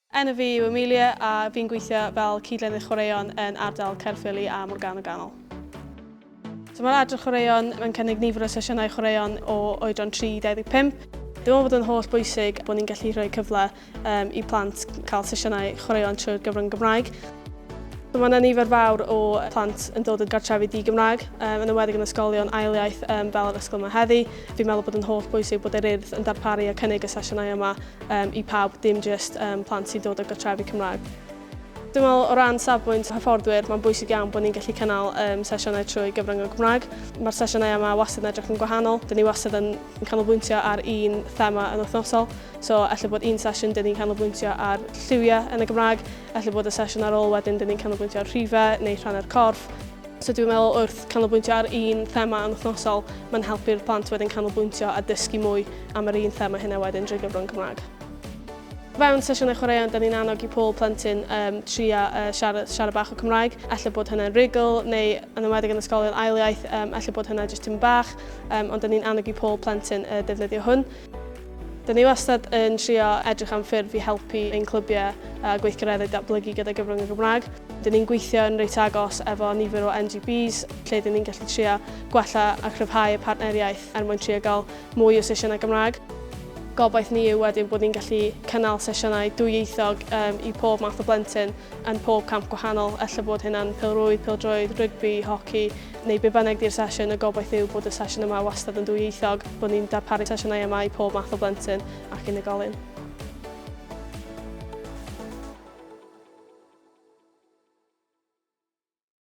Enw fi yw Amelia a fi'n gweithio fel cyd-lenydd chwaraeon yn ardal Caerffili a Morgannwg Ganol. So mae'r adran chwaraeon yn cynnig nifer o sesiynau chwaraeon o oedran 3 i 25. Dwi'n meddwl bod yn holl bwysig bod ni'n gallu rhoi cyfle um, i plant cael sesiynau chwaraeon trwy'r gyfrwng Gymraeg. Mae yna nifer fawr o plant yn dod yn gartrefi di-Gymraeg, um, yn ymwedig yn ysgolion ail iaith um, fel yr ysgol yma heddi. Fi'n meddwl bod yn holl bwysig bod yr urdd yn darparu a cynnig y sesiynau yma um, i pawb, dim jyst um, plant sy'n dod o gartrefi Cymraeg. Dwi'n meddwl o ran safbwynt hyfforddwyr, mae'n bwysig iawn bod ni'n gallu cynnal um, sesiynau trwy gyfrwng y Gymraeg. Mae'r sesiynau yma wastad yn edrych yn gwahanol. Dyn ni wastad yn, yn canolbwyntio ar un thema yn wythnosol. So, efallai bod un sesiwn dyn ni'n canolbwyntio ar lliwiau yn y Gymraeg, efallai bod y sesiwn ar ôl wedyn dyn ni'n canolbwyntio ar rhifau neu rhannu'r corff. So dwi'n meddwl wrth canolbwyntio ar un thema yn wythnosol, mae'n helpu'r plant wedyn canolbwyntio a dysgu mwy am yr un thema hynna wedyn drwy gyfrwng Cymraeg. Fewn sesiynau chwaraeon, da ni'n annog i pob plentyn um, tria uh, siarad, siarad bach o Cymraeg. Alla bod hynna'n rigl, neu yn ymwedig yn ysgolion ail iaith, um, alla bod hynna jyst tyn bach, um, ond da ni'n annog i pob plentyn uh, defnyddio hwn. Dyn ni wastad yn trio edrych am ffyrdd i helpu ein clybiau a gweithgareddau datblygu gyda gyfrwng y Gymraeg. Dyn ni'n gweithio yn reit agos efo nifer o NGBs lle dyn ni'n gallu trio gwella a chryfhau y partneriaeth er mwyn trio gael mwy o sesiynau Gymraeg. Gobaith ni yw wedyn bod ni'n gallu cynnal sesiynau dwyieithog um, i pob math o blentyn yn pob camp gwahanol, ella bod hynna'n pêl-rwyd, pêl-droed, rygbi, hoci, neu be bynnag di'r sesiwn, y gobaith yw bod y sesiwn yma wastad yn dwyieithog, bod ni'n darparu sesiynau yma i pob math o blentyn ac unigolyn.